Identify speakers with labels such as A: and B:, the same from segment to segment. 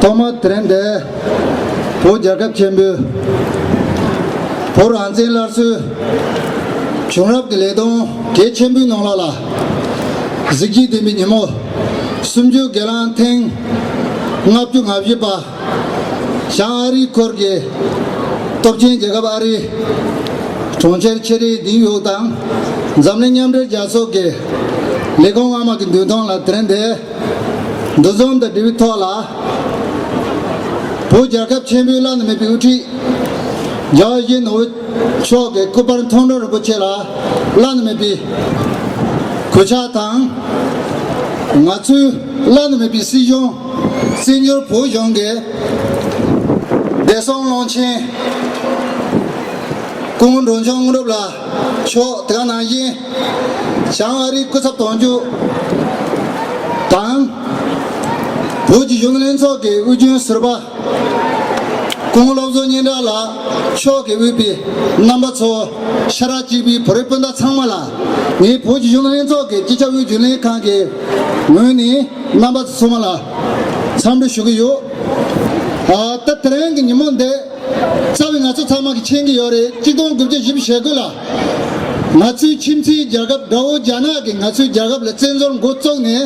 A: ཐོག་མ་དྲན་འདས་བོད་རྒྱལ་ཁབ་ཆེན་པོའི། བོད་རང་བཙན་སླར་གསོའི། བྱུང་རབས་ཀྱི་ལས་དོན་གལ་ཆེན་པོའི་ནང་ལགས་ལ། གཟི་བརྗིད་ལྡན་པའི་ཉིན་མོ། སུམ་ཅུ་སྒེར་ལངས་ཐེངས་ལྔ་བཅུ་ང་བཞི་པ། ཞང་ཨ་རིའི་འཁོར་གྱི་སྟོབས་ཆེན་རྒྱལ་ཁབ་ཨ་རི། གྲོང་ཁྱེར་ཆེ་རིའི་སྡིངས་ཡོལ་དང་འཛམ་གླིང་མཉམ་འབྲེལ་རྒྱལ་ཚོགས་ཀྱི་ལས་ཁུངས་སྔ་མ་གི་མདུན་ཐང་ལ་དྲན་འདས། འདུ་འཛོམས་དང་འབྲེལ་བའི་ཐོག་ལ། བོད་རྒྱལ་ཁབ་ཆེན་པོའི་བླ་ན་མེད་པའི་དབུ་ཁྲིད། རྒྱ་གཞུང་ནོར་བུ་མཆོག་གི་སྐུ་པར་མཐོང་གྲོལ་རིན་པོ་ཆེ་ལ་བླ་ན་མེད་པའི་གུས་ཕྱག་དང། ང་ཚོའི་བླ་ན་མེད་པའི་སྲིད་གཞུང་སྲིད་འབྱོར་བོད་གཞུང་གི་བདེ་སྲུང་བློན་ཆེན། སྐུ་ངོ་འབྲོང་ཆུང་དངོས་གྲུབ་ལ། ཕྱོགས་དེ་ག་ནང་བཞིན། བྱང་ཨ་རིའི་སྐུ་ཚབ་དོན་གཅོད་དང། བོད་ཀྱི་གཞུང་ལྷན་ཚོགས་ཀྱི་དབུས་རྒྱུན་ཟུར་པ། དགུང་སློབ་གསོ་སྙན་གྲགས་ལགས་ཕྱོགས་ཀྱི་དབུས་པའི་རྣམ་པ་ཚོ། ཤ་ར་གཅིག་པའི་བོད་རིགས་སྤུན་ཟླ་ཚང་མ་ལ། ངས་བོད་ཀྱི་གཞུང་ལྷན་ཚོགས་ཀྱི་སྤྱི་ཁྱབ་དབུས་རྒྱུན་ལས་ཁང་གི་ངོས་ནས་རྣམ་པ་ཚོ་ཚང་མ་ལ་འཚམས་འདྲི་ཞུ་གི་ཡོད། ད་ལྟ་དེ་རིང་གི་ཉིན་མོ་འདི། རྩ་བའི་ང་ཚོ་ཚང་མ་གི་མཁྱེན་གི་ཡོད་རེད་གཅིག་སྟོང་དགུ་བརྒྱ་བཞི་བཞེས་དགོས་ལ། ང་ཚོའི་ཁྱིམ་མཚེའི་རྒྱལ་ཁབ་དགྲ་བོ་རྒྱ་ནག་གི་ང་ཚོའི་རྒྱལ་ཁབ་ལ་བཙན་བཟོར་མགོ་བཙུགས་ནས།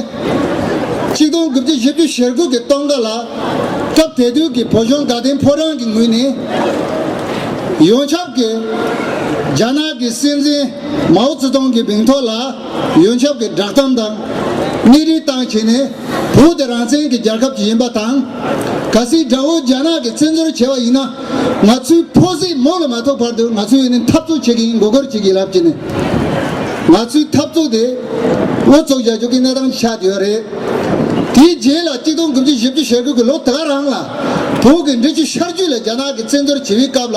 A: གཅིག་སྟོང་དགུ་བརྒྱ་བཞི་བཅུ་བཞེར་དགོས་གི་སྟོང་ཀ་ལ། སྐབས་དེ་དུས་གི་བོད་གཞུང་དགའ་ལྡན་ཕོ་བྲང་གི་ངོས་ནས། ཡོངས་ཁྱབ་ཀྱི་རྒྱ་ནག་གི་སྲིད་འཛིན་མའོ་ཙེ་ཏུང་གི་མིང་ཐོག་ལ། ཡོན་ཆབ་ཀྱི་བསྒྲགས་གཏམ་དང། གནས་རིའི་སྟངས་བྱས་ནས། བོད་དེ་རང་བཙན་གྱི་རྒྱལ་ཁབ་ཅིག་ཡིན་པ་དང། ག་སྲིད་དགྲ་བོ་རྒྱ་ནག་གི་བཙན་འཛུལ་བྱས་པ་ཡིན་ན། ང་ཚོའི་ཕོ་གཟིགས་མོ་ལ་མ་ཐུག་བར་དུ་ང་ཚོས་ནི་འཐབ་རྩོད་བྱེད་ཀྱི་ཡིན་མགོ་སྐོར་བྱེད་ཀྱི་ལབ་ཀྱི་ནི། ང་ཚོའི་འཐབ་རྩོད་དེ། ཨུ་ཚུགས་བྱ་རྒྱུ་གི་གནས་སྟངས་ཆགས་ཀྱི་ཡོད་རེད། དེའི་རྗེས་ལ་གཅིག་སྟོང་དགུ་བཅུ་བཞི་བཅུ་ཞེ་དགུ་གི་ལོ་དེ་ག་རང་ལ། བོད་ཀྱི་འབྲི་ཆུ་ཤར་རྒྱུད་ལ་རྒྱ་ནག་གི་བཙན་འཛུལ་བྱེད་པའི་སྐབས་ལ།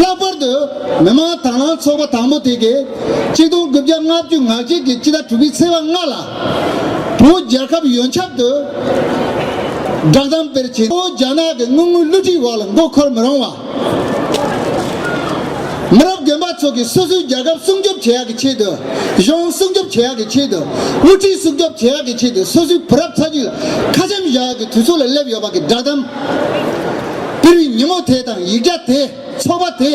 A: ལྷག་པར་དུ་མི་མང་དྭང་བླངས་ཚོགས་པ་དང་པོ་དེ་གའི་གཅིག་སྟོང་དགུ་བརྒྱ་ལྔ་བཅུ་ང་གཅིག་གི་སྤྱི་ཟླ་དྲུག་པའི་ཚེས་པ་ལྔ་ལ། བོད་རྒྱལ་ཁབ་ཡོན་ཆབ་ཏུ་བསྒྲགས་གཏམ་དཔེར་བྱེད་དོ་རྒྱ་ནག་གི་དངུལ་དངོས་བསླུ་བྲིད་བར་ལ་མགོ་འཁོར་མི་རུང་བ། མི་རབས་རྒན་པ་ཚོ་གིས་སོ་སོའི་རྒྱལ་ཁབ་སྲུང་སྐྱོབ་བྱེད་ཡག་གི་ཆེད་དུ་གཞུང་སྲུང་སྐྱོབ་བྱེད་ཡག་གི་ཆེད་དུ་དབུ་ཁྲིད་སྲུང་སྐྱོབ་བྱེད་ཡག་གི་ཆེད་དུ་སོ་སོའི་བུ་རབས་ཚ་རྒྱུད་ལ་ཁ་འཆམ་བཞག་ཡག་གི་དུས་ཚོད་ལ་སླེབས་ཡོད་པ་གི་བསྒྲགས་གཏམ་པི་རི་ཉིན་མོ་དེ་དང་ཡིག་བརྒྱ་དེ་ཚོགས་པ་དེ།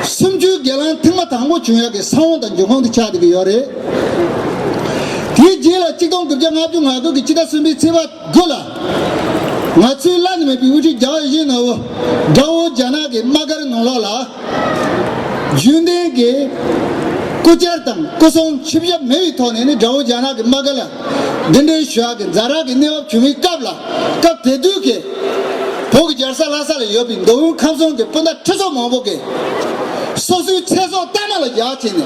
A: སུམ་ཅུའི་སྒེར་ལངས་ཐེངས་མ་དང་པོ་བྱུང་ཡག་གི་ས་བོང་དང་འབྱུང་ཁུངས་དེ་ཆགས་བསྡད་ཀྱི་ཡོད་རེད། དེའི་རྗེས་ལ་གཅིག་སྟོང་དགུ་བརྒྱ་ལྔ་བཅུ་ང་དགོས་ཀྱི་སྤྱི་ཟླ་གསུམ་པའི་ཚེས་པ་དགུ་ལ། ང་ཚོའི་བླ་ན་མེད་པའི་དབུ་ཁྲིད་རྒྱ་ཨོ་ཞེ་ནོ་བོ། Gao Janaga། ཡི་དམག་སྒར་ནང་ལོགས་ལ། རྒྱུན་ལྡན་གྱི་སྐུ་བཅར་དང་སྐུ་སྲུང་ཆིབས་ཞབས་མེད་པའི་ཐོག་ནས་ནི Gao Janaga། ཡི་དམག་སྒར་ལ། འདི་འདྲའི་ཞུ་དབྱངས་ཀྱི་འཛའ་རག་གི་གནས་བབ་བྱུང་བའི་སྐབས་ལ་སྐབས་དེ་དུས་ཀྱི། བོད་ཀྱི་རྒྱལ་ས་ལྷ་ས་ལ་ཡོད་པའི་མདོ་དབུས་ཁམས་གསུམ་གྱི་སྤུན་ཟླ་ཁྲི་ཚོ་མང་པོ་གིས། སོ་སོའི་ཚེ་སྲོག་གཏའ་མ་ལ་རྒྱག་བྱས་ནས།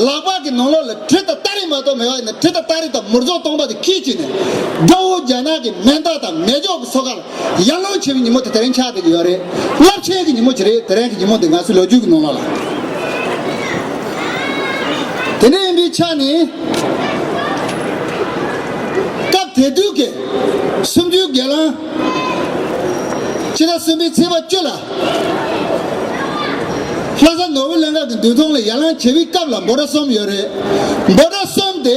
A: ལག་པ་གི་ནང་ལོགས་ལ་གྲི་དང་སྟ་རེ་མ་གཏོགས་མེད་པ་ནས་གྲི་དང་སྟ་རེ་དང་མུར་རྫོགས་སྟོང་པ་དེ་ཁྱེར་བཅུག་ནས། དགྲ་བོ་རྒྱ་ནག་གི་མེ་མདའ་དང་མེ་སྒྱོགས་ཀྱི་སོ་ཁར་ཡར་ཀླུང་བྱེད་པའི་ཉིན་མོ་དེ་དེ་རིང་ཆགས་བསྡད་ཀྱི་ཡོད་རེད། རླབས་ཆེན་གྱི་ཉིན་མོ་ཅིག་རེད་དེ་རིང་གི་ཉིན་མོ་འདི་ང་ཚོའི་ལོ་རྒྱུས་ཀྱི་ནང་ལ། དེ་འདྲ་ཡིན་པའི་ཆ་ནས། སྐབས་དེ་དུས་ཀྱི་སུམ་ཅུའི་སྒེར་ལངས། ཕྱི་ཟླ་གསུམ་པའི་ཚེས་པ་བཅུ་ལ། ལྷ་ས་ནོར་བུ་གླིང་སྐབས་ཀྱི་མདུན་ཐོང་ལ་ཡར་ལངས་བྱེད་པའི་སྐབས་ལ་འབོ་སྒྲ་གསུམ་ཡོད་རེད། འབོ་སྒྲ་གསུམ་དེ།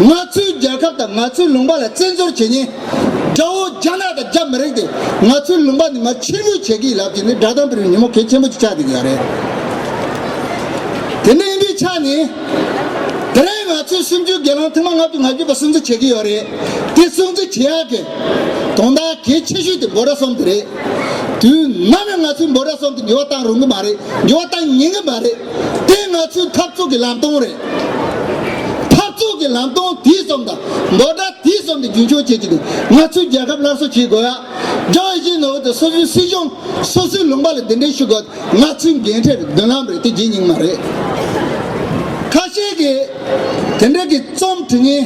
A: ང་ཚོའི་རྒྱལ་ཁབ་དང་ང་ཚོའི་ལུང་པ་ལ་བཙན་འཛུལ་བྱེད་ཉེན། དགྲ་བོ་རྒྱ་ནག་དང་རྒྱ་མི་རིགས་དེ་ང་ཚོའི་ལུང་པ་འདི་མར་ཕྱིར་འབུད་བྱེད་ཀྱི་ཡིན་ལབ་ཀྱི་ནི་དགྲ་དང་པོ་རིགས་ཉིན་མོ་གལ་ཆེན་པོ་གཅིག་ཆགས་བསྡད་ཀྱི་ཡོད་རེད། དེ་ནས་འདི་ཆ་ནས། དེ་རིང་ང་ཚོའི་སེམས་རྒྱུད་དགེ་སློང་ཐེངས་མ་ལྔ་བཅུ་ང་བརྒྱུད་པ་སྲུང་བརྩི་བྱེད་ཀྱི་ཡོད་རེད། དེ་སྲུང་བརྩི་བྱེད་ཡག་གི། དོན་དག་གལ་ཆེ་ཤོས་དེ་འབོད་སྒྲ་གསུམ་དེ་རེད། དུས་ནམ་ཡང་ང་ཚོས་འབོད་སྒྲ་གསུམ་དེ་འགྱུར་བ་གཏང་རུང་གི་མ་རེད་འགྱུར་བ་གཏང་ཉེན་གྱི་མ་རེད། དེ་ང་ཚོའི་འཐབ་རྩོད་ཀྱི་ལམ་སྟོན་རེད། འཐབ་རྩོད་ཀྱི་ལམ་སྟོན་དུས་གསུམ་དང་མདོ་སྒྲ་དུས་གསུམ་དུ་རྒྱུན་འཁྱོངས་བྱེད་ཀྱི་འདུག་ང་ཚོས་རྒྱལ་ཁབ་སླར་གསོ་བྱེད་དགོས། ལྗོངས་ཡི་གེའི་ནོར་བུ་དང་སོ་སོའི་སྲིད་གཞུང། སོ་སོའི་ལུང་པ་ལ་འདི་འདྲའི་ཞུ་དགོས་ང་ཚོའི་འགན་འཁྲི་རེད་མདུན་ལམ་རེད་དེ་བརྗེད་སྙིང་མ་རེད། ཁ་ཤས་ཀྱིས། དེ་འབྲེལ་གྱི་རྩོམ་དྲི་ངན།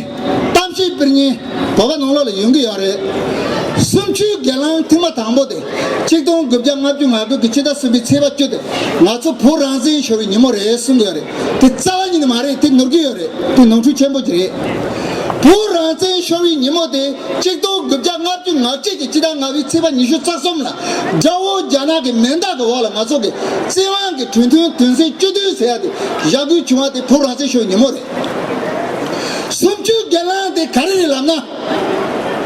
A: གཏམ་བཤད་པིར་ངན་བོད་པ་ནང་ལོག་ལ་ཡོང་གི་ཡོད་རེད། གསུམ་བཅུའི་སྒེར་ལངས་ཐེངས་མ་དང་པོ་དེ་གཅིག་སྟོང་དགུ་བརྒྱ་ལྔ་བཅུ་ང་དགུ་གི་ཕྱི་ཟླ་གསུམ་པའི་ཚེས་པ་བཅུ་དེ་ང་ཚོ་བོད་རང་བཙན་ཤོར་བའི་ཉིན་མོ་རེད་གསུང་གི་ཡོད་རེད་དེ་རྩ་བ་ཉིད་ནས་མ་རེད་དེ་ནོར་གྱི་ཡོད་རེད་དེ་ནོར་འཁྲུལ་ཆེན་པོ་གྱི་རེད། བོད་རང་བཙན་ཤོར་བའི་ཉིན་མོ་དེ་གཅིག་སྟོང་དགུ་བརྒྱ་ལྔ་བཅུ་ང་གཅིག་གི་ཕྱི་ཟླ་ལྔ་བའི་ཚེས་པ་ཉི་ཤུ་རྩ་གསུམ་ལ་དགྲ་བོ་རྒྱ་ནག་གི་མེ་མདག་གི་འོག་ལ་ང་ཚོ་གི་བཙན་དབང་གི་གྲོས་མཐུན་དོན་ཚན་བཅུ་བདུན་ཟེར་ཡག་དེ་བཞག་དགོས་བྱུང་བ་དེ་བོད་རང་བཙན་ཤོག་ཉིན་མོ་རེད། སུམ་བཅུའི་སྒེར་ལངས་དེ་ག་རེ་རེད་ལབ་ན།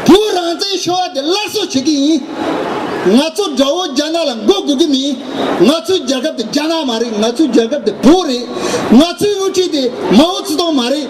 A: བོད་རང་བཙན་ཤོག་བ་དེ་སླར་གསོ་བྱེད་ཀྱི་ཡིན། ང་ཚོ་དགྲ་བོ་རྒྱ་ནག་ལ་མགོ་སྒུར་གི་མིན། ང་ཚོའི་རྒྱལ་ཁབ་དེ་རྒྱ་ནག་མ་རེད་ང་ཚོའི་རྒྱལ་ཁབ་དེ་བོད་རེད། ང་ཚོའི་དབུ་ཁྲིད་དེ་མའོ་ཙི་ཏུང་མ་རེད།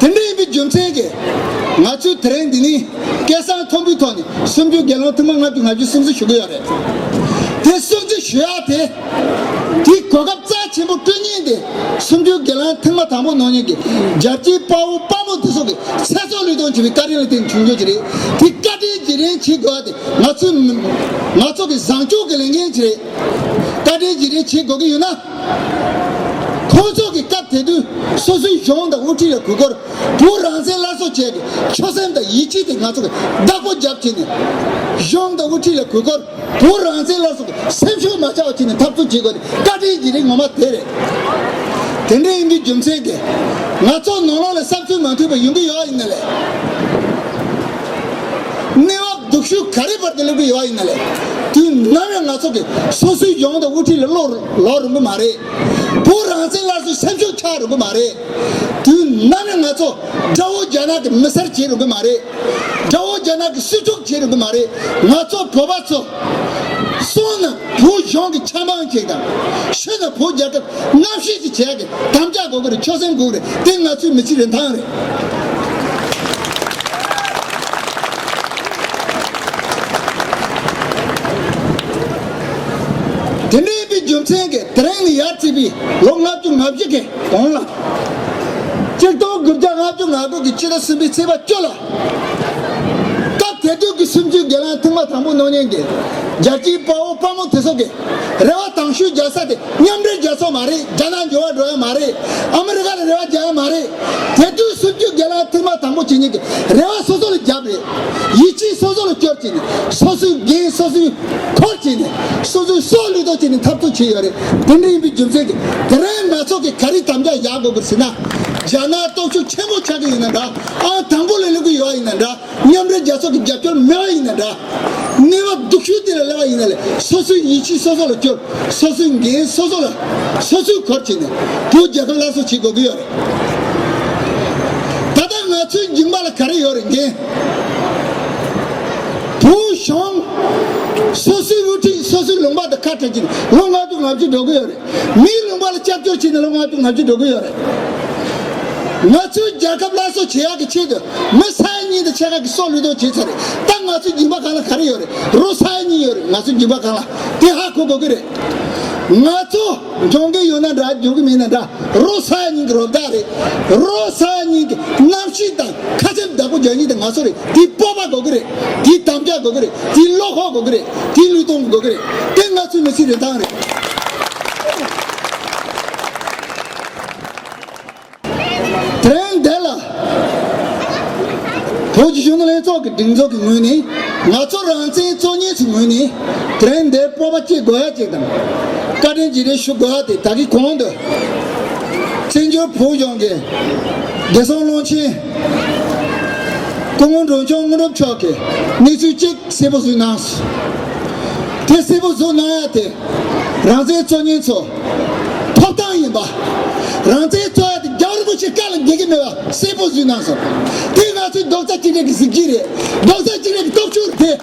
A: དེ་འདྲ་ཡིན་པའི་རྒྱུ་མཚན་གྱིས། ང་ཚོས་དེ་རིང་འདི་ནས་སྐད་གསང་མཐོན་པོའི་ཐོག་ནས་སུམ་ཅུ་དགེ་སློང་ཐུང་མ་ལྔ་བཅུ་ང་བཅུ་སུམ་བརྩི་ཞུ་གི་ཡོད་རེད། དེ་སུམ་བརྩི་ཞུ་ཡག་དེ། དེའི་གོ་སྐབས་རྩ་ཆེན་པོ་སྤྲོད་ཉེན་དེ་སུམ་ཅུ་དགེ་སློང་ཐེངས་མ་དང་པོ་ནང་ཉིད་ཀྱི་རྒྱལ་སྤྱིའི་དཔའ་བོ་དཔའ་མོ་འདི་ཚོ་གི་ཚེ་སྲོག་བློས་གཏོང་བྱེད་པའི་བཀའ་དྲིན་ལ་བརྟེན་ནས་བྱུང་རྒྱུ་ཞིག་རེད། དེ་བཀའ་དྲིན་བརྗེ་རན་བྱེད་དགོས་པ་དེ་ང་ཚོའི་མི། ང་ཚོ་གི་བཟང་སྤྱོད་ཀྱི་ལས་འགན་ཞིག་རེད། བཀའ་དྲིན་བརྗེ་རན་བྱེད་དགོས་ཀྱི་ཡོད་ན། ཁོང་ཚོ་གི་སྐབས་དེ་དུས་སོ་སོའི་གཞུང་དང་དབུ་ཁྲིད་ལ་གུས་བཀུར་བོད་རང་བཙན་སླར་གསོ་བྱས་ཏེ་ཆོད་སེམས་དང་ཡིད་ཆེས་དེ་ང་ཚོ་གི་བདག་པོ་རྒྱབ་བྱས་ནས་གཞུང་དང་དབུ་ཁྲིད་ལ་གུས་བཀུར་བོད་རང་བཙན་སླར་གསོ་གི་སེམས་ཤུགས་མ་ཆག་པ་བྱས་ནས་འཐབ་རྩོད་བྱེད་དགོས་ཏེ་བཀའ་དྲིན་གྱི་རིགས་ངོ་མ་དེ་རེད། དེ་འདྲ་ཡིན་རྒྱུའི་རྒྱུ་མཚན་དེ་ང་ཚོ་ནོར་ལོག་ལས་གསབ་ཚུལ་མ་མཐུན་པ་ཡོང་གི་ཡོད་ཡིན་ནི་ལས། གནས་བབ་སྡུག་ཤུགས་ག་རེ་བར་དུ་སླེབས་ཀྱི་ཡོད་བ་ཡིན་ན་ལས། དུས་ནམ་ཡང་ང་ཚོ་གིས་སོ་སོའི་ཡོང་འདོད་དབུ་ཁྲིད་ལ་བློ་ལོག་རུང་གི་མ་རེད། བོད་རང་བཙན་སླར་གསོའི་སེམས་ཤུགས་ཆག་རུང་གི་མ་རེད། དུས་ནམ་ཡང་ང་ཚོ་དགྲ་བོ་རྒྱ་ནག་གི་མི་སེར་བྱེད་རུང་གི་མ་རེད། དགྲ་བོ་རྒྱ་ནག་གི་སྲིད་ཕྱོགས་བྱེད་རུང་གི་མ་རེད། ང་ཚོ་བོད་པ་ཚོ། སོང་ན་བོད་གཞུང་གི་ཆབ་འབངས་གཅིག་དང། ཤི་ན་བོད་རྒྱལ་ཁབ་ལྔ་བཞི་གཅིག་བྱས་ཏེ་དམ་བཅའ་དགོས་ཀྱི་རེད་ཆོས་སེམས་འགུག་རེད་དེ་ང་ཚོའི་མི་ཚེའི་རིན་ཐང་རེད། དེ་འདྲའི་པའི་རྒྱུ་མཚན་གྱིས་དེ་རིང་ནས་ཡར་བརྩིས་པའི་ལོ་ལྔ་བཅུ་ང་བཞི་གི་གོང་ལ། སྤྱིར་བཏང་དགུ་བརྒྱ་ལྔ་བཅུ་ང་དགུ་གི་ཕྱི་ཟླ་གསུམ་པའི་ཚེས་པ་བཅུ་ལ། སྐབས་དེ་དུས་ཀྱི་སིམ་ཅུའི་སྒེར་ལངས་ཐེངས་མ་དང་པོ་ནོར་ཉེན་གྱིས་རྒྱལ་སྤྱིའི་དཔའ་བོ་དཔའ་མོ་དེ་ཚོ་གི་རེ་བ་དྭངས་ཤུལ་རྒྱག་ས་དེ་མཉམ་འབྲེལ་རྒྱལ་ཚོགས་མ་རེད་རྒྱ་ནག་འབྱོར་བ་འགྲོ་ཡ་མ་རེད་ཨ་མི་རི་ཀ་ལ་རེ་བ་རྒྱག་ཡ་མ་རེད་དེ་དུས་སིམ་ཅུའི་སྒེར་ལངས་ཐེངས་མ་དང་པོ་བྱེད་ཉེན་གྱི་རེ་བ་སོ་སོ་ལ་རྒྱབ་རེད་ཡིད་ཆེས་སོ་སོ་ལ་སྐྱོར་བྱས་ནས་སོ་སོའི་འགན་སོ་སོའི་འཁོར་བྱས་ནས་སོ་སོའི་སྲོག་བློས་གཏོང་བྱས་ནས་འཐབ་རྩོད་བྱས་ཡོད་རེད་དེ་འདྲ་ཡིན་པའི་རྒྱུ་མཚན་གྱི་དེ་རིང་ང་ཚོ་གི་ག་རེ་དམ་བཅའ་བཞག་དགོས་པར་ཟེར་ན་རྒྱ་ནག་སྟོབས་ཤུགས་ཆེན་པོ་ཆགས་ཀྱི་ཡོད་ན་འདྲ། ཨ་དང་པོ་ལས་ལེགས་པོ་ཡོད་པ་ཡིན་ན་འདྲ། མཉམ་འབྲེལ་རྒྱལ་ཚོགས་ཀྱི་རྒྱབ་སྐྱོར་མེད་པ་ཡིན་ན་འདྲ། གནས་བབ་སྡུག་ཤོས་དེ་ལ་སླེབས་པ་ཡིན་ན་ལས་སོ་སོའི་ཡིད་ཆེས་སོ་སོ་ལ་བསྐྱུར། སོ་སོའི་འགན་སོ་སོ་ལ། སོ་སོའི་གོར་བྱས་ནས། བོད་རྒྱལ་ཁབ་སླར་གསོ་བྱེད་དགོས་ཀྱི་ཡོད་རེད། ད་ལྟ་ང་ཚོའི་འགྱིང་བག་ལ་ག་རེ་ཡོད་རེད་འགན། བོད་གཞུང། སོ་སོའི་དབུ་ཁྲིད་སོ་སོའི་ལུང་པ་དང་ཁ་བྲལ་གྱིས་ལོ་ལྔ་དྲུག་ལྔ་བཅུ་འགྲོ་གི་ཡོད་རེད། མིའི་མིང་པ་ལ་སྐྱབས་བཅོལ་བྱས་ནས་ལོ་ལྔ་སྟོང་ལྔ་བཅུ་འགྲོ་གི་ཡོད་རེད། ང་ཚོའི་རྒྱལ་ཁབ་སླར་གསོ་བྱེད་ཡག་གི་ཆེད་དུ་མི་ས་ཡ་གཉིས་དང་ཕྱེད་ཀ་གི་སྲོག་བློས་གཏོང་བྱས་ཚར་རེད་ད་ང་ཚོའི་སྦྱིན་པ་གང་ལ་ག་རེ་ཡོད་རེད་རོ་ས་ཡ་གཉིས་ཡོད་རེད་ང་ཚོའི་སྦྱིན་པ་གང་ལ་དེ་ཧ་གོ་དགོས་གི་རེད། ང་ཚོ་འབྱུང་གི་ཡོད་ན་འདྲ་འབྱུང་གི་མེད་ན་འདྲ་རོ་ས་ཡ་གཉིས་ཀྱི་རོ་བདག་རེད་རོ་ས་ཡ་གཉིས་ཀྱི་གནམ་གཤིས་དང་ཁ་ཆེམས་བདག་པོ་རྒྱ་ཡིག་དེ་ང་ཚོ་རེད་དེའི་སྤོབས་པ་དགོས་ཀྱི་རེད་དེའི་དམ་བཅའ་དགོས་ཀྱི་རེད་དེའི་བློ་ཁོག་དགོས་ཀྱི་རེད་དེའི་ལུས་སྟོང་དགོས་ཀྱི་རེད་དེ་ང་ཚོའི་མི་ཚེའི་རིན་ཐང་རེད། དེར་འདས་ལ། བོད་ཀྱི་གཞུང་ལྷན་ཚོགས་ཀྱི་སྒྲིག་འཛུགས་ཀྱི་ངོས་ནས་ང་ཚོ་རང་བཙན་གཙོ་གཉེར་གྱི་ངོས་ནས་དེར་འདས་སྤོབས་པ་སྐྱེ་དགོས་ཡ་ཅིག་དང། བཀའ་དྲིན་བགྱི་རེ་ཞུ་དགོས་ཡ་དེ་ད་གི་གོང་དུ། བཙན་བྱོལ་བོད་གཞུང་གི། བདེ་སྲུང་ཀློང་ཆེན། སྐུ་ངོ་འབྲོང་ཆུང་དངོས་གྲུབ་མཆོག་གིས་གནས་ཚུལ་གཅིག་གསལ་པོ་གཟུགས་གནང་སོང། དེ་གསལ་པོ་གཟུགས་གནང་ཡ་དེ་རང་བཙན་གཙོ་ཉན་ཚོ་ཐོབ་ཐང་ཡིན་པ། རང་བཙན་གཙོ་ཡ་དེ་རྒྱ་རིན་པོ་ཆེ་བཀའ་ལ་འགེལ་གྱི་མེད་པ་གསལ་པོ་གཟུགས་གནང་སོང། དེ་ང་ཚོའི་རྡོག་རྩ་གཅིག་སྒྲིལ་གྱི་གཟི་བརྗིད་རེད་རྡོག་རྩ་གཅིག་སྒྲིལ་གྱི་སྟོབས་ཤུགས་རེད་དེ།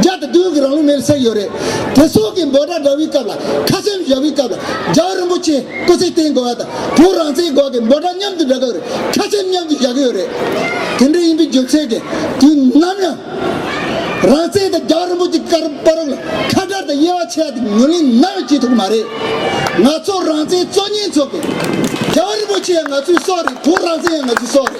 A: བརྒྱ་དང་བདུན་གྱི་རང་ལུགས་མེར་བསྲེགས་ཡོད་རེད། དེ་སོགས་ཀྱི་འབོད་སྒྲ་འདྲ་བུའི་སྐབས་ལ་ཁ་སེམས་བཞག་པའི་སྐབས་ལ་རྒྱ་བོད་རིན་པོ་ཆེ་སྐུ་ཚེ་བརྟན་དགོས་པ་དང་བོད་རང་བཙན་དགོས་ཀྱི་འབོད་སྒྲ་མཉམ་དུ་འདྲ་སྐབས་རེར་ཁ་སེམས་མཉམ་དུ་བཞག་གི་ཡོད་རེད། དེ་འདྲ་ཡིན་པའི་རྒྱུ་མཚན་གྱིས་དུས་ནམ་ཡང་རང་བཙན་དང་རྒྱ་བོད་རིན་པོ་ཆེ་ཀར་པ་རུག་ལ་ཁ་བསྒྲགས་དང་དབྱེ་བ་ཕྱེ་བ་དེ་ཉོན་ལེན་ནམ་ཡང་བྱེད་ཐུབ་ཀྱི་མ་རེད། ང་ཚོ་རང་བཙན་གཙོ་གཉེར་ཚོགས་པས་རྒྱ་བོད་རིན་པོ་ཆེ་ཡང་ང་ཚོའི་སྲོག་རེད་བོད་རང་བཙན་ཡང་ང་ཚོའི་སྲོག་རེད།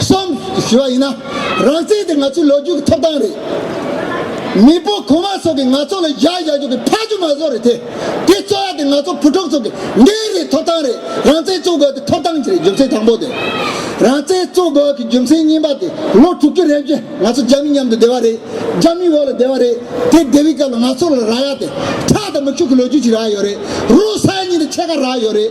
A: གསུམ། ཞུ་བ་ཡིན་ན། རང་བཙན་དེ་ང་ཚོའི་ལོ་རྒྱུས་ཀྱི་ཐོབ་ཐང་རེད། མི་སྤོ་གོང་མ་སོགས་ཀྱིས་ང་ཚོ་ལ་བཞག་བཞག་རྒྱུ་གི་ཕ་ཆུ་མ་ཟོག་རེད་དེ། དེ་རྩོད་ཡ་དེ་ང་ཚོ་བུ་ཕྲུག་ཚོ་གི་འདི་རེད་ཐོབ་ཐང་རེད་རང་བཙན་རྩོད་དགོས་དེ་ཐོབ་ཐང་གི་རེད་རྒྱུ་མཚན་དང་པོ་དེ། རང་བཙན་རྩོད་དགོས་ཀྱི་རྒྱུ་མཚན་གཉིས་པ་དེ་ལོ་དྲུག་ཅུ་རེབ་བཞི་ང་ཚོ་རྒྱ་མི་མཉམ་དུ་བསྡེ་བ་རེད་རྒྱ་མིའི་འོག་ལ་བསྡེ་བ་རེད་དེ་བསྡེ་བའི་སྐབས་ལ་ང་ཚོ་ལ་རག་ཡ་དེ་ཁྲག་དང་མིག་ཆུ་གི་ལོ་རྒྱུས་ཅིག་རག་ཡོད་རེད་རུང་ས་ཡ་གཉིས་དང་ཕྱེད་ཀ་རག་ཡོད་རེད།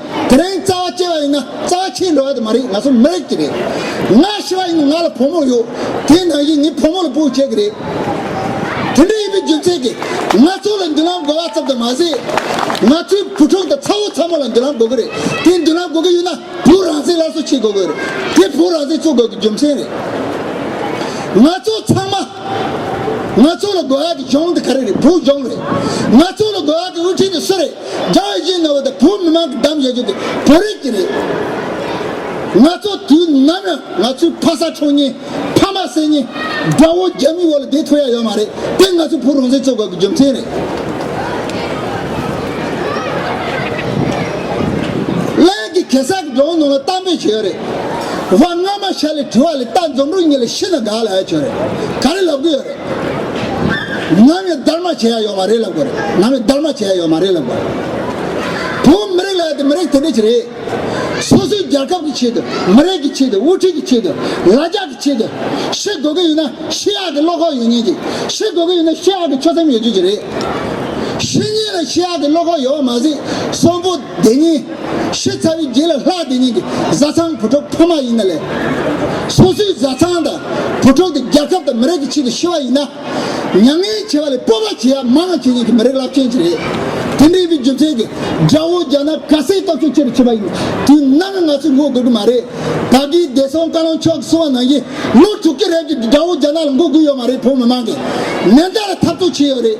A: དེ་རིང་རྩ་བ་བཅད་པ་ཡིན་ན་རྩ་བ་ཆད་འགྲོ་བ་དེ་མ་རེད་ང་ཚོ་མི་རིགས་ཀྱི་རེད། ང་ཤི་བ་ཡིན་ན་ང་ལ་བུ་མོ་ཡོད་དེའི་ནང་བཞིན་ངའི་བུ་མོ་ལ་སྤུག་བྱེད་ཀྱི་རེད། དེ་འདྲ་ཡིན་པའི་རྒྱུ་མཚན་གྱིས་ང་ཚོ་ལ་མདུན་ལམ་དགོས་པ་ཙམ་དུ་མ་ཟད། ང་ཚོའི་བུ་ཕྲུག་དང་ཚ་བོ་ཚ་མོ་ལ་མདུན་ལམ་དགོས་ཀྱི་རེད་དེ་མདུན་ལམ་དགོས་ཀྱི་ཡོད་ན་བོུ་རང་བཙན་སླར་གསོ་བྱེད་དགོས་ཀྱི་རེད་དེ་བོུ་རང་བཙན་འཚོལ་དགོས་ཀྱི་རྒྱུ་མཚན་རེད། ང་ཚོ་ཚང་མ། ང་ཚོ་ལ་དགོས་ཡག་གི་གཞུང་དེ་ག་རེ་རེད་བོུ་གཞུང་རེད། ང་ཚོ་ལ་དགོས་ཡག་གི་དབུ་ཁྲིད་དེ་སུ་རེད་རྒྱ་ཡི་གཞི་ནས་བོད་དང་བོུ་མི་མང་གི་འདམ་བཞེས་རྒྱུ་དེ་བོད་རིགས་ཀྱི་རེད། ང་ཚོ་དུས་ནམ་ཡང་ང་ཚོའི་ཕ་ས་ཆུང་གཉིས་ཕ་མ་སྲས་གཉིས་དགྲ་བོ་རྒྱ་མིའི་འོག་ལ་བསྡད་ཐུབ་ཡག་ཡོད་མ་རེད་དེ་ང་ཚོའི་བོུ་རང་བཙན་རྩོད་དགོས་གི་རྒྱུ་མཚན་རེད། སླད། ཀྱི་གེ་སར་གྱི་འགྲོ་འོང་ནང་ལ་གཏམ་དཔེ་བྱོས་ཡོད་རེད། བ་སྔ་མ་ཤར་ལས་བྲི་བ་ལས་རྟ་འཛོམས་རུ་གཉིས་ལས་ཤི་ན་དགའ་ལ་ཡ་བྱོས་རེད་ག་རེ་ལབ་གི་ཡོད་རེད། ང་མི་སྡར་མ་བྱེད་ཡ་ཡོད་མ་རེད་ལབ་གི་རེད་ང་མི་སྡར་མ་བྱེད་ཡ་ཡོད་མ་རེད་ལབ་གི་རེད། བོད་མི་རིགས་ལ་ཡ་དེ་མི་རིགས་དེ་འདྲས་ཀྱི་རེད། སོ་སོའི་རྒྱལ་ཁབ་ཀྱི་ཆེད་དུ་མི་རིགས་ཀྱི་ཆེད་དུ་དབུ་ཁྲིད་ཀྱི་ཆེད་དུ་ལ་རྒྱ་ཀྱི་ཆེད་དུ་ཤི་དགོས་གི་ཡོད་ན་ཤི་ཡག་གི་བློ་ཁོག་ཡོད་ཉེན་གྱི་ཤི་དགོས་གི་ཡོད་ན་ཤི་ཡག་གི་ཆོད་སེམས་ཡོད་རྒྱུ་གྱི་རེད། ཤི་ཉེན་ལ་ཤི་ཡག་གི་བློ་ཁོག་ཡོད་པ་མ་ཟད་སོན་པོ། དེ་ཉིན་ཤི་ཚར་བའི་རྗེས་ལ་ལྷ་དེ་ཉིད་ཀྱི་བཟའ་ཚང་བུ་ཕྲུག་ཕ་མ་ཡིན་ན་ལས། སོ་སོའི་བཟའ་ཚང་དང་བུ་ཕྲུག་དེ་རྒྱལ་ཁབ་དང་མི་རིགས་ཀྱི་ཆེད་དུ་ཤི་བ་ཡིན་ན། མྱ་ངན་བྱེད་པ་ལས་སྤོབས་པ་བྱེད་ཡ་མང་ང་ཁྱེད་ཉིད་ཀྱི་མི་རིགས་རླབས་ཆེན་ཅིག་རེད། དེ་འདྲའི་བའི་རྒྱུ་མཚན་གྱིས་དགྲ་བོ་རྒྱ་ནག་ག་སའི་སྟོབས་ཤུགས་ཆེ་རུ་ཕྱིན་པ་ཡིན། དུས་ནམ་ཡང་ང་ཚོས་ངོ་དགོས་ཀྱི་མ་རེད། ད་གིན་བདེ་སྲུང་བཀའ་བློན་མཆོག་གིས་གསུང་བ་ནང་བཞིན་ལོ་དྲུག་གི་རེབ་ཀྱི་དགྲ་བོ་རྒྱ་ནག་ལ་མགོ་སྒུར་ཡོད་མ་རེད་བོད་མི་མང་གིས་ནན་ཏན་ལ་འཐབ་རྩོད་བྱས་ཡོད་རེད།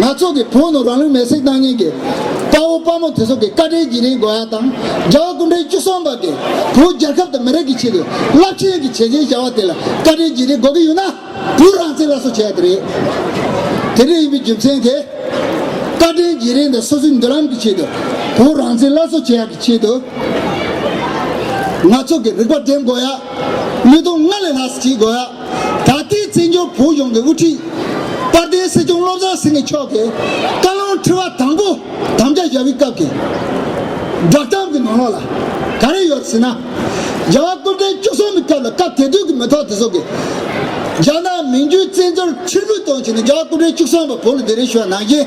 A: ན་ཚོགས་ཀྱི་བོན་ནོ་རང་ལུས་མེར་སྲེག་བཏང་ཉེན་གྱི་དཔའ་བོ་དཔའ་མོ་དེ་ཚོ་གི་བཀའ་དྲིན་གྱི་རིང་དགོས་ཡ་དང་རྒྱ་བ་ཀུན་གྲིལ་བཅུ་གསུམ་པ་གི་བོད་རྒྱལ་ཁབ་དང་མི་རིགས་ཀྱི་ཆེད་དུ་རླབས་ཆེན་གྱི་བྱས་རྗེས་བཞའ་བ་དེ་ལ་བཀའ་དྲིན་གྱི་རིང་དགོས་གི་ཡོད་ན་བུ་རང་བཙན་ལ་སོ་བྱས་དེ་རེད་དེ་འདྲ་ཡིན་པའི་རྒྱུ་མཚན་གི་བཀའ་དྲིན་གྱི་རིང་དང་སོ་སོའི་མདུན་ལམ་གྱི་ཆེད་དུ་བུ་རང་བཙན་ལ་སོ་བྱས་ཡ་གི་ཆེད་དུ་ན་ཚོགས་ཀྱི་རིག་པ་འདྲེན་དགོས་ཡ་ལུས་སྟོང་སྔར་ལས་ལྷག་སེ་བྱེད་དགོས་ཡ། ད་ལྟའི་བཙན་བྱོལ་བོད་གཞུང་གི་དབུ་ཁྲིད་དཔལ་ལྡན་སྲིད་སྐྱོང་བློ་བཟང་སེང་གེ་མཆོག་གིས་བཀའ་བློན་ཁྲི་བ་དང་པོ་དམ་བཅའ་བཞག་པའི་སྐབས་ཀྱི་བསྒྲགས་གཏམ་གྱི་ནང་ལོགས་ལ་ག་རེ་ཡོད་ཟེར་ན། རྒྱལ་བ་ཀུན་ཕན་བཅུ་གསུམ་པའི་སྐབས་ལ་སྐབས་དེ་དུས་ཀྱི་མི་ཐོག་དེ་ཚོ་གིས། རྒྱ་ནག་མིང་རྒྱུད་བཙན་བྱོལ་ཕྱིར་འབུད་གཏོང་བྱས་ནས་རྒྱལ་བ་ཀུན་ཕན་བཅུ་གསུམ་པ་བོད་ལ་བདེ་རེ་ཞུ་བ་ནང་བཞིན།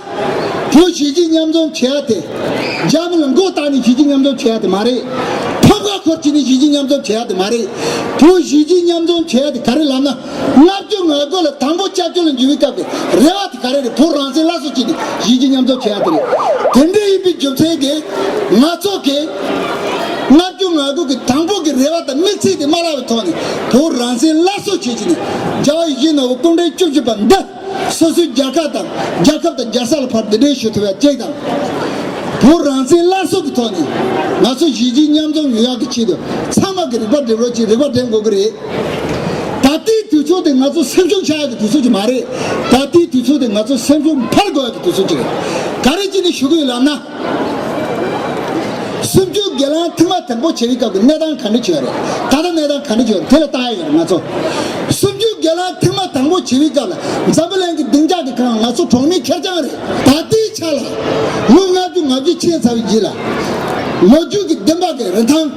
A: བོད་གཞིས་བྱེས་མཉམ་འཛོམས་བྱེད་ཡ་དེ། འཇམ་དབྱངས་མགོ་བཏགས་ནི་གཞིས་བྱེས་མཉམ་འཛོམས་བྱེད་ཡ་དེ་མ་རེད། ཐོབ་སྐལ་འཁོར་བྱེད་ནི་གཞིས་བྱེས་མཉམ་འཛོམས་བྱེད་ཡ་དེ་མ་རེད། བོད་གཞིས་བྱེས་མཉམ་འཛོམས་བྱེད་ཡ་དེ་ག་རེ་ལབ་ན། ལྔ་བཅུ་ང་དགུ་ལ་དང་པོ་སྐྱབས་བཅོལ་ལ་འཇུག་བའི་སྐབས་ཀྱི་རེ་བ་དེ་ག་རེ་རེད་བོད་རང་བཙན་སླར་གསོ་བྱེད་ནི་གཞིས་བྱེས་མཉམ་འཛོམས་བྱེད་ཡ་དེ་རེད། དེ་འདྲ་ཡིན་པའི་རྒྱུ་མཚན་གྱིས། ང་ཚོ་གིས། ལྔ་བཅུ་ང་དགུ་གི་དང་པོ་གི་རེ་བ་དང་དམིགས་ཚད་དེ་མ་བརླག་པའི་ཐོག་ནས་བོད་རང་བཙན་སླར་གསོ་བྱེད་ཀྱི་ནི་རྒྱ་བོད་ཡི་གེའི་ནོར་བུ་སྐུ་འདྲེན་བཅུ་བཞི་པ་འདི། སོ་སོའི་རྒྱལ་ཁབ་དང་རྒྱལ་ཁབ་དང་རྒྱལ་ས་ལ་ཕར་འདི་འདྲའི་ཞུ་ཐུབ་ཡ་གཅིག་དང། བོད་རང་བཙན་སླར་གསོ་གི་ཐོག་ནས་ང་ཚོ་གཞིས་བྱེས་མཉམ་འཛོམས་ཡོད་ཡག་གི་ཆེད་དུ་ཚང་མ་གི་རིག་པ་འགྲེམས་རོགས་གཅིག་རིག་པ་འགྲེམས་དགོས་གི་རེད། ད་ལྟའི་དུས་ཚོད་དེ་ང་ཚོ་སེམས་ཤུགས་ཆག་ཡག་གི་དུས་ཚོད་ཅིག་མ་རེད། ད་ལྟའི་དུས་ཚོད་དེ་ང་ཚོ་སེམས་ཤུགས་འཕར་དགོས་ཡག་གི་དུས་ཚོད་ཅིག་རེད། ག་རེ་གཅིག་ནས་ཞུ་གི་ཡོད་ལབ་ན། སུམ་བཅུ་དགེ་ལང་ཐིག་མ་དང་པོ་བྱེད་པའི་སྐབས་ཀྱི་གནས་སྟངས་ག་འདྲ་བྱུང་བ་རེད། ད་ལྟ་གནས་སྟངས་ག་འདྲ་བྱུང་བ་རེད་དེ་ལ་བལྟ་ཡ་ཡོད་རེད་ང་ཚོ། སུམ་བཅུ་དགེ་ལང་ཐིག་མ་དང་པོ་བྱེད་པའི་སྐབས་ལ་འཛམ་བུ་གླིང་གི་སྡིངས་ཆ་གི་ཁང་ང་ཚོ་གྲོང་མི་ཁེར་རྐྱང་རེད། ད་ལྟའི་ཆ་ལ་ལོ་ལྔ་བཅུ་ང་བཅུ་ཕྱིན་ཚར་བའི་རྗེས་ལ། ལོ་རྒྱུས་ཀྱི་བདེན་དཔང་གི་རིན་ཐང།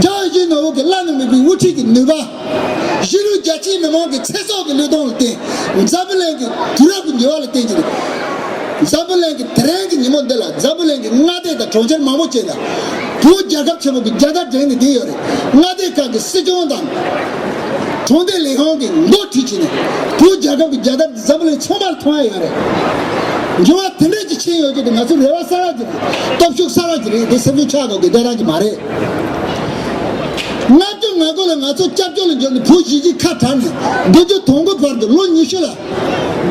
A: རྒྱ་ཡི་གཞོན་ནུ་འོག་གི་བླ་ན་མེད་པའི་དབུ་ཁྲིད་ཀྱི་ནུས་པ། གཞིས་ལུས་རྒྱ་ཆེའི་མི་མང་གི་ཚེ་སྲོག་གི་བློས་གཏོང་ལ་བརྟེན། འཛམ་བུ་གླིང་གི་དུས་རབས་ཀྱི་འགྱུར་བ་ལ་བརྟེན་གྱི་རེད། འཛམ་བུ་གླིང་གི་དེ་རིང་གི་ཉིན་མོ་འདི་ལ་འཛམ་བུ་གླིང་གི་མངའ་སྡེ་དང་གྲོང་ཁྱེར་མང་པོ་བཅས་དང་པོའི་རྒྱལ་ཁབ་ཆེན་པོ་གི་རྒྱལ་དར་བསྒྲེངས་ནས་བསྡད་ཡོད་རེད། མངའ་སྡེ་ཁག་གི་སྲིད་སྐྱོང་དང། གྲོང་སྡེ་ལས་ཁང་གི་མགོ་ཁྲིད་བཅས་ནས་པོའི་རྒྱལ་ཁབ་ཀྱི་རྒྱལ་དར། འཛམ་བུ་གླིང་ཚང་མར་མཐོང་ཡ་ཡོད་རེད། འགྱུར་བ་དེ་འདྲ་ཅིག་ཕྱིན་ཡོང་རྒྱུ་དེ་ང་ཚོའི་རེ་བ་གསར་བ་དེ་རེད། སྟོབས་ཤུགས་གསར་བ་དེ་རེད་དེ་སེམས་ཤུགས་ཆགས་འགྲོ་དགོས་དོན་རང་གི་མ་རེད། ལྔ་བཅུ་ང་དགུ་ལ་ང་ཚོ་སྐྱབས་བཅོལ་ལ་འབྱོར་ནས་བོད་གཞིས་ཀྱི་ཁ་གྲགས་ནས་བདུན་བཅུ་དོང་དགུ་བར་དུ་ལོ་ཉི་ཤུ་ལ།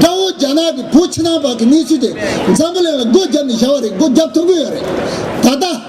A: དགྲ་བོ་རྒྱ་ནག་གིས་བོད་ཕྱི་ནང་བར་གྱི་གནས་ཚུལ་དེ་འཛམ་བུ་གླིང་ལ་སྒོ་བརྒྱབ་ནས་བཞག་བ་རེད་སྒོ་བརྒྱབ་ཐུབ་ཀྱི་ཡོད་རེད། ད་ལྟ།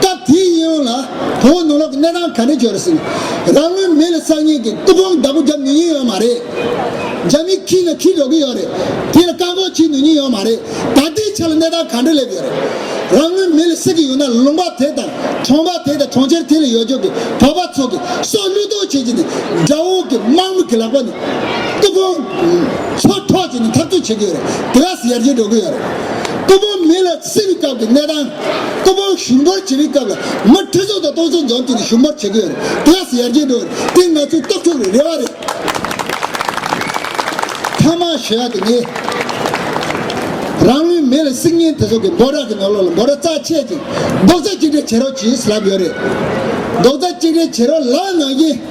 A: སྐབས་དེའི་ཡིད་འོང་ལ་བོང་བུ་ནོར་ལོག་གི་གནས་སྟངས་ག་འདྲས་བྱུང་རེད་ཟེར། རང་ལུས་མེ་ལ་བསྲགས་ཉེས་ཀྱིས་ཏུ་བོང་བདག་པོ་བརྒྱབ་ནུས་ཉེན་ཡོད་མ་རེད། རྒྱ་མིས་ཁྲིད་ན་ཁྲིད་འགྲོ་གི་ཡོད་རེད། དེ་ལ་བཀག་འགོག་བྱེད་ནུས་ཉེན་ཡོད་མ་རེད། ད་ལྟའི་ཆ་ལ་གནས་སྟངས་ག་འདྲས་སླེབས་ཡོད་རེད། རང་ལུས་མེ་ལ་བསྲེགས་ཀྱི་ཡོད་ན་ལུང་པ་དེ་དང་གྲོང་པ་དེ་དང་གྲོང་ཁྱེར་དེ་ལ་ཡོད་རྒྱུགས་ཀྱི་བོད་པ་ཚོ་གི་སྲོག་བློས་གཏོང་བྱེད་ཀྱི་ནི་དགྲ་བོ་གི་དམག་མི་གི་ལག་པ་ནི་ཏུ་བོང་ཚོ་འཕྲོག་བྱེད་ནི་འཐབ་རྩོད་བྱེད་ཀྱི་ཡོད་རེད་དེ་ག་སེ་ཡར་རྒྱས་འགྲོ་གི་ཡོད་རེད། ཏུ་བོང་མེ་ལ། སྲིད་པའི་སྐབས་ཀྱི་གནས་དང། སྐུ་ཕུང་བཞུགས་འབར་བྱེད་པའི་སྐབས་ལ་མི་ཁྲི་ཚོ་དང་སྟོང་ཚོ་འཛོམས་ཏེ་བཞུགས་འབར་བྱེད་དགོས་རེད། དེ་ཡང་ཡར་རྒྱས་འགྲོ་བ་རེད། དེ་ང་ཚོའི་སྟོབས་འཕྲོག་པའི་རེ་བ་རེད། ཐ་མར་ཞུ་ཡག་དེ་ནི། རང་ལུས་མེ་ལ་བསྲེགས་ཉིན་དེ་ཚོ་གི་འབོ་ར་གི་ནོར་ལོག་ལ་འབོ་ར་རྩ་ཆད་ཅིང་རྡོག་རྩ་གཅིག་སྒྲིལ་བྱེད་རོགས་གྱིས་ལབ་ཡོད་རེད། རྡོག་རྩ་གཅིག་སྒྲིལ་བྱེད་རོགས་ལབ་ནང་བཞིན།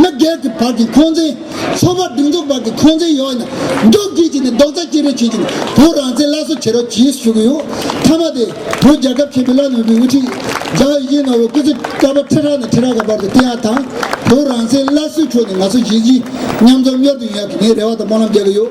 A: མི་སྒེར་གྱི་བར་གྱི་འཁོན་འཛིན། ཚོགས་པ་སྒྲིག་འཛུགས་བར་གྱི་འཁོན་འཛིན་ཡོད་ན། རྒྱུགས་ཁྱི་བྱས་ནས་རྡོག་རྩ་སྐྱེལ་རེས་བྱེད་ཅིང་བོད་རང་བཙན་སླར་གསོ་བྱེད་རོགས་གྱིས་ཞུ་གི་ཡོད། མཐའ་མ་དེ། བོད་རྒྱལ་ཁབ་ཆེན་པོའི་བླ་ན་མེད་པའི་དབུ་ཁྲིད། ཛའོ་དབྱི་ནོ་ཝེ་སྐུ་ཚེ་དཀར་པོ་ཁྲི་ཕྲག་ནས་ཁྲི་ཕྲག་གི་བར་དུ་བསྟེན་ཡག་དང། བོད་རང་བཙན་སླར་གསོའི་ཕྱོགས་ནས་ང་ཚོ་གཞིས་བྱེས་མཉམ་འཛོམས་གཉོར་སྐྱོང་ཡག་གི་ངའི་རེ་བ་དང་སྨོན་ལམ་རྒྱག་གི་ཡོད།